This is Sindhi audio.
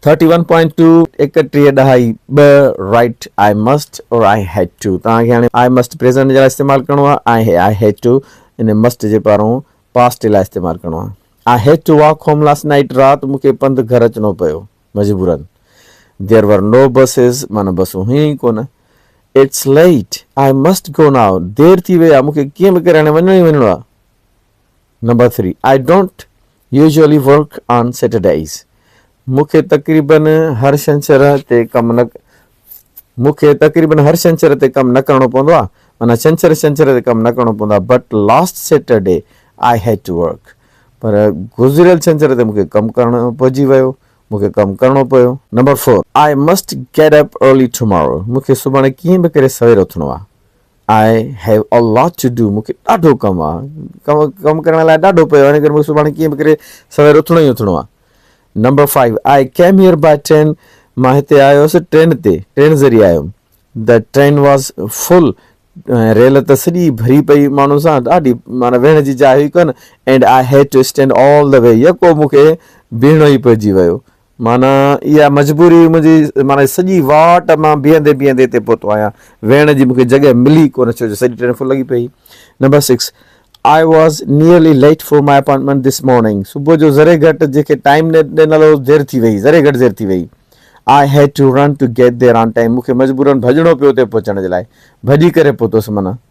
ٿرٽي ون پوائنٽ ٽو ايڪٽيهه ڏهائي ٻه right I must or I had to توهان کي هاڻي آئي مسٽ پريزنٽ جي لاء استعمال ڪرڻو آهي آئي هيڊ ٽو ان مسٽ جي پارون پاسٽ لاء استعمال ڪرڻو آهي I had to walk home last night رات مون کي پنڌ گهر اچڻو پيو مجبورن ديئر ور نو بسز مانا بسون هيون ئي ڪونه it's late I must go now دير ٿي وئي آهي مون کي ڪيئن به ڪري هاڻي وڃڻو ئي وڃڻو آهي number three, I don't usually work on Saturdays, مون کي تقريباً هر شنڇر تي ڪم نه مون کي تقريباً هر شنڇر تي ڪم نه ڪرڻو پوندو آهي، معنيٰ ڇنڇر ڇنڇر تي ڪم نه ڪرڻو پوندو آهي، but last Saturday I had to work, پر گذريل ڇنڇر تي مون کي ڪم ڪرڻو پئجي ويو، مون کي ڪم ڪرڻو پيو. Number four, I must get up early tomorrow, مون کي سڀاڻي ڪيئن به ڪري سوير اٿڻو آهي، آء have a lot to do مون کي ڏاڍو ڪم آ ڪم ڪم ڪرڻ لاء ڏاڍو پيو آ ان ڪري مون کي سڀاڻي ڪيئن به ڪري سوير اٿڻو ئي اٿڻو آ number five I came here by train مان هتي آيو هوس ٽرين تي ٽرين ذريعي آيو هوم د ٽرين واز فل ريل ته سڄي ڀري پئي ماڻهو سان ڏاڍي مانا ويهڻ جي جاء هئي ڪونه and I had to stand all the way يڪو مون کي بيهڻو ئي پئجي ويو معنيٰ اها مجبوري هئي منهنجي معنيٰ سڄي واٽ مان بيهندي بيهندي هتي پهتو آهيان ويهڻ جي مون کي جڳهه ملي ڪونه ڇو جو سڄي ٽريفڪ لڳي پئي هئي number six I was nearly late for my appointment this morning صبح جو ذري گهٽ جنهن کي ٽائيم ڏنل هو دير ٿي وئي ذري گهٽ دير ٿي وئي I had to run to get there on time مون کي مجبورن ڀڄڻو پيو اتي پهچڻ جي لاء ڀڄي ڪري پهتس معنيٰ